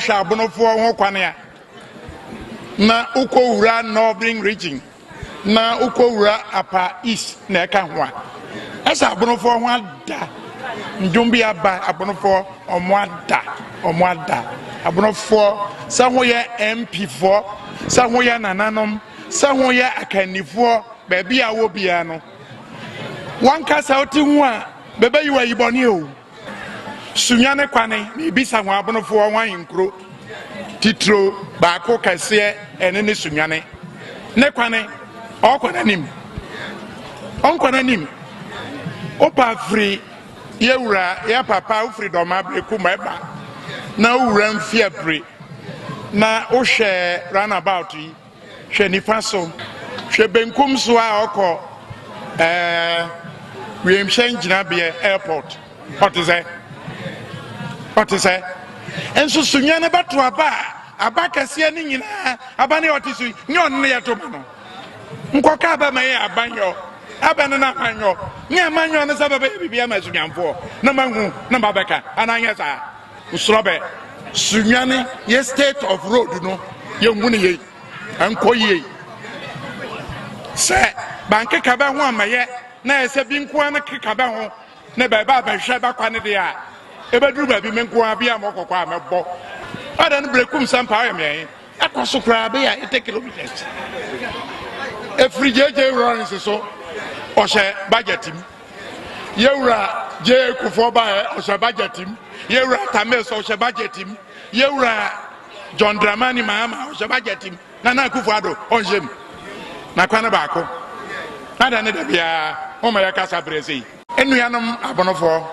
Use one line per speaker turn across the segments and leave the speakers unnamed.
wohwɛ abonofoɔ ho kwan a na wokɔwura northern region na wokɔwura apa east na ɛka ho a ɛsɛ abonofoɔ ho ada ndwom bi aba abonofoɔ Ɔmo ada ɔmo ada Aborofoɔ sɛ ho yɛ MP foɔ sɛ ho yɛ nananom sɛ ho yɛ akannifoɔ baabi a wɔ biara no wɔnka sɛ wote ho a bɛbɛyi wɔ ayibɔne o sunya ne kwane ne bisa ho abonofoɔ ho ahenkuro titiro baako kɛseɛ ɛne ne sunyane ne kwane ɔkɔ n'anim ɔnkɔ n'anim wopa firi Yɛ wura yɛ papa wofiri dɔm abere ko ma ɛba na wura mfi abere na wohwɛ runabout yi hwɛ nifa so hwɛ benkum so a ɔkɔ ɛɛ wiemhyɛ ngyinabeɛ airport ɔte sɛ ɔte sɛ nso sunyɛ no bɛto aba a aba kɛseɛ ne nyinaa aba ne ɔte so yi nyɛ ɔno ne yɛto ma no. Nkɔ kaa bɛma yɛ abanyɔ, abɛ no n'abanyɔ, ne amanyɔ no sɛ bɛbɛyɛ biribi ama Sunyanfoɔ na mahu na mabɛka anaa nyɛ saa. Nsorɔbɛ, Sunyan yɛ state of road no yɛnhu no yei, ɛnkɔ yie. Sɛ bankeka bɛ ho amɛyɛ na yɛ sɛ bi nkoa no keka bɛ ho ne bɛba bɛhwɛ bɛkwa no deɛ a, ɛbɛduru baabi me nkoa bi a mɔkɔkɔ a mɛbɔ. Ɔdɛ no berɛkum sɛ mpa ɔyɛ meɛhe. Ɛkɔ so koraa bɛyɛ a eighty kilometres. Ɛfiri JJ Lawrence so ɔhyɛ budget mu. Yɛwura JA Kufuor baɛ ɔhyɛ budget mu. Yɛwura Tamis ɔhyɛ budget mu. Yɛwura John Dramani Mahama ɔhyɛ budget mu. Nana Akufo Addo ɔnhyɛ mu. Na kwan baako. Ada ne da biara ɔma yɛkasa berɛ sei. Nnuanom abonofoɔ,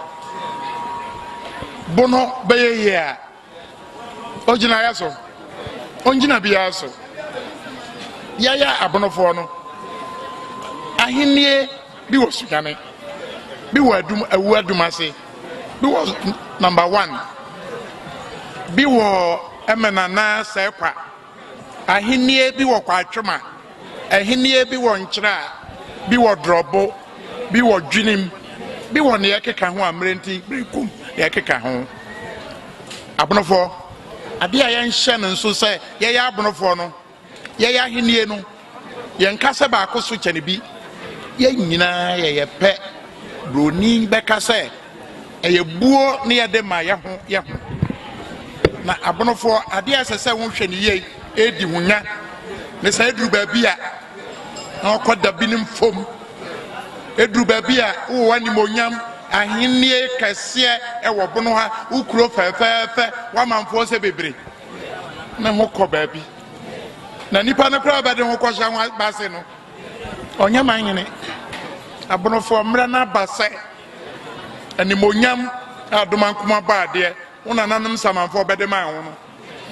bono bɛyɛ yie a Ogyinaeɛ so. Ɔngyina biara so. Yɛyɛ abonofoɔ no, ahennie bi wɔ sunyane, bi wɔ adum, awu adum ase, bi wɔ number one, bi wɔ ɛmɛna na sɛkwa. Ahenni bi wɔ Kwatwema, Ahenni bi wɔ Nkyerɛ, bi wɔ Drɔbo, bi wɔ Dwenem, bi wɔ nea ɛkeka ho a mmerɛ nti merekum nea ɛkeka ho. Abonofoɔ, adeɛ a yɛnhyɛ no nso sɛ yɛyɛ abonofoɔ no, yɛyɛ ahenni no, Yɛnka sɛ baako so kyɛne bi. Yɛn nyinaa yɛ yɛ pɛ. Buroni bɛka sɛ ɛyɛ buo ne yɛde ma yɛ ho yɛ ho. Na abonofoɔ adeɛ a ɛsɛ sɛ wohwɛ ne yie ɛredi ho nya ne sɛ ɛduru baabi a na ɔkɔ da binom fam. Ɛduru baabi a wowɔ animonyam ahennie kɛseɛ ɛwɔ bono ha, wo kuro fɛfɛɛfɛ, w'amanfoɔ sɛ bebree ne ho kɔ baabi. na nipa no koraa ɔbɛde ho kɔhyɛ ho aba ase no ɔnyɛ man nyene abonofoɔ mmerɛ no aba sɛ animonyam a adoma nkoma bɔ adeɛ wo nananom samanfoɔ bɛde man ho no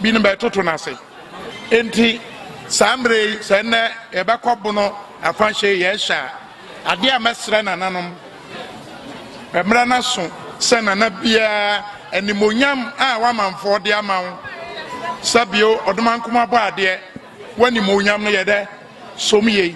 bi no bɛtoto no ase enti saa mmerɛ yi sɛ nnɛ yɛbɛkɔ bono afahyɛ yɛhyɛ a Adeɛ a mɛsrɛ nananom, Mmra na so sɛ nana biara animuonyam a w'amanfoɔ de ama wo sɛ bio ɔdomankoma bɔadeɛ, w'animuonyam no yɛ dɛ som yei.